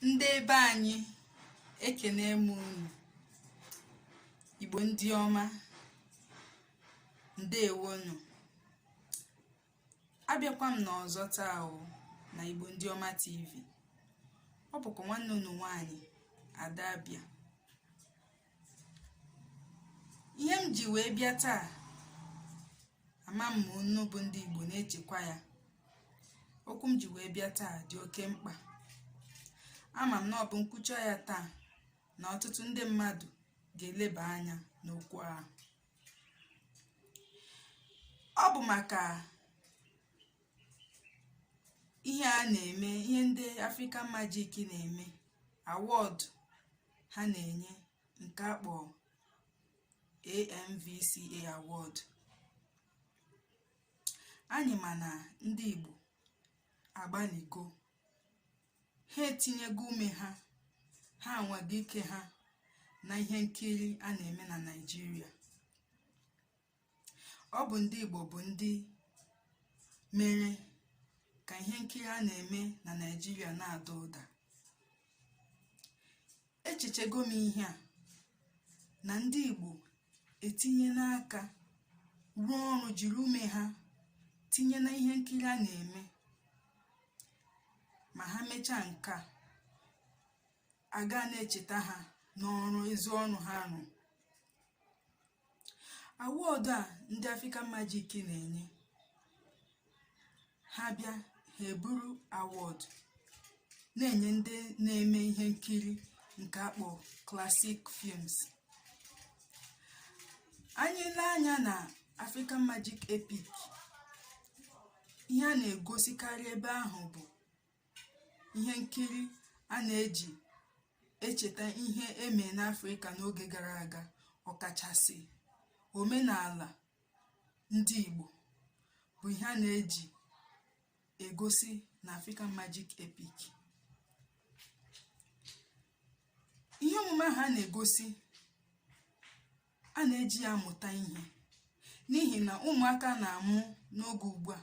ndị ebe anyị ekene m unu igbo ndị ọma ndewonu abịakwa m n'ọzọ taa o na igbo ndị ọma tv ọ bụkwa nwanne unu nwaanyị ada abịa ihe m ji wee bịa taa ama m ma unu bụ ndị Igbo na-echekwa ya okwu m ji wee bịa taa dị oke mkpa ama m na ọ bụ m kwuchaa ya taa na ọtụtụ ndị mmadụ ga-eleba anya n'okwu ahụ ọ bụ maka ihe a na-eme ihe ndị African Magic na-eme award ha na-enye nke a kpọ AMVCA award anyị ma na ndị Igbo agbalịgo ha etinyego ume ha ha anwago ike ha na ihe nkiri a na-eme na Naịjirịa ọ bụ ndị Igbo bụ ndị mere ka ihe nkiri a na-eme na Naịjirịa na-ada ụda echechego m ihe a na ndị Igbo etinyena aka rụọ ọrụ jiri ume ha tinye na ihe nkiri a na-eme ma ha mechaa nke a a ga na-echeta ha n'ọrụ ezi ọrụ ha rụ award a ndị African Magic na-enye ha bịa ha eburu award na-enye ndị na-eme ihe nkiri nke a kpọ classic films anyị lee anya na African Magic Epic ihe a na-egosikarị ebe ahụ bụ ihe nkiri a na-eji echeta ihe e me n'Afrịka n'oge gara aga ọkachasị omenala ndị Igbo bụ ihe a na-eji egosi na African Magic Epic ihe omume ahụ a na-egosi a na-eji ya amụta ihe n'ihi na ụmụaka a na-amụ n'oge ugbu a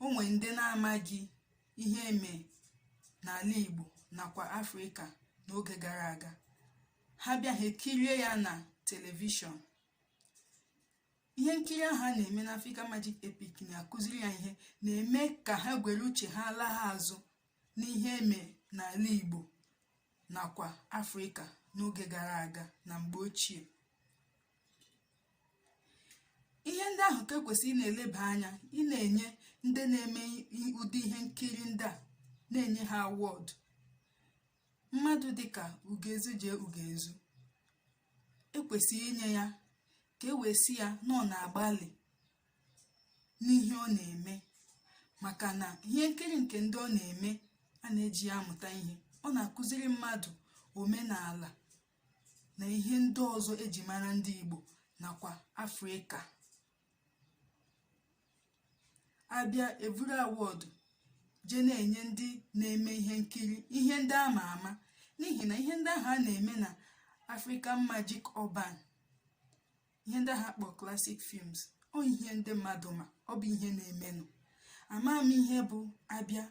o nwere ndị na-amaghị ihe e me n'ala Igbo nakwa Afrịka n'oge gara aga ha bịa ha ekirie ya na telivishọn ihe nkiri ahụ a na-eme na Africa Magic Epic na-akụziri ya ihe na-eme ka ha gwere uche ha laa ha azụ n'ihe eme n'ala Igbo nakwa Afrịka n'oge gara aga na mgbe ochie ihe ndị ahụ ka ekwesịrị ị na-eleba anya ị na-enye ndị na-eme ụdị ihe nkiri ndị a na-enye ha award mmadụ dịka Ugezu J Ugezu ekwesịrị inye ya ka e wee sị ya na ọ na-agbalị n'ihe ọ na-eme maka na ihe nkiri nke ndị ọ na-eme a na-eji ya amụta ihe ọ na-akụziri mmadụ omenala na ihe ndị ọzọ eji mara ndị Igbo nakwa Afrịka abịa evuru award jee na-enye ndị na-eme ihe nkiri ihe ndị a ma ama n'ihi na ihe ndị ahụ a na-eme na African Magic Urban ihe ndị ha kpọ classic films ọ ihe ndị mmadụ ma ọ bụ ihe na-emenụ ama m ihe bụ abịa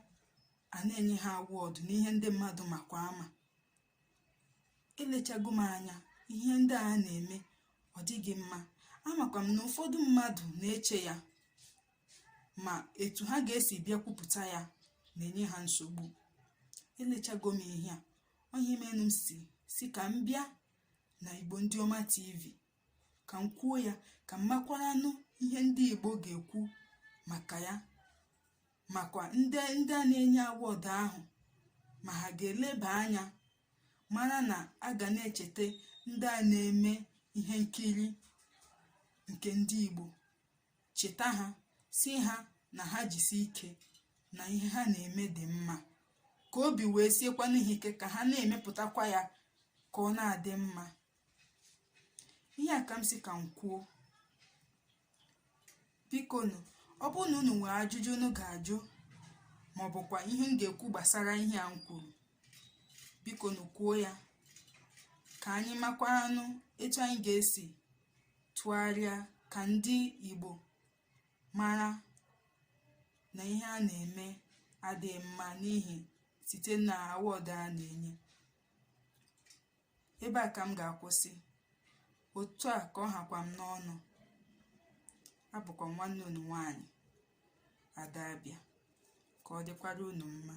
a na-enye ha award na ihe ndị mmadụ makwa ama elechago m anya ihe ndị a na-eme ọ dịghị mma amakwa m na ụfọdụ mmadụ na-eche ya ma etu ha ga-esi bịa kwupụta ya na-enye ha nsogbu elechago m ihe a ọ ihe menụ m si sị ka m bịa na Igbo Ndị Ọma TV ka m kwuo ya ka m makwaranụ ihe ndị Igbo ga-ekwu maka ya makwa ndị a na-enye award ahụ ma ha ga-eleba anya mara na a ga na-echeta ndị a na-eme ihe nkiri nke ndị Igbo cheta ha sị ha na ha jisi ike na ihe ha na-eme dị mma ka obi wee siekwanụ ha ike ka ha na-emepụtakwa ya ka ọ na-adị mma ihe a ka m sị ka m kwuo bikonu ọ bụrụ na unu nwere ajụjụ unu ga-ajụ ma ọ bụkwa ihe unu ga-ekwu gbasara ihe a m kwuru bikonu kwuo ya ka anyị makwanụ etu anyị ga-esi tụgharịa ka ndị Igbo mara na ihe a na-eme adịghị mma n'ihi site na award a na-enye ebe a ka m ga-akwụsị otu a ka ọ hakwa m n'ọnụ abụkwa m nwanne unu nwaanyị Ada Abịa ka ọ dịkwara unu mma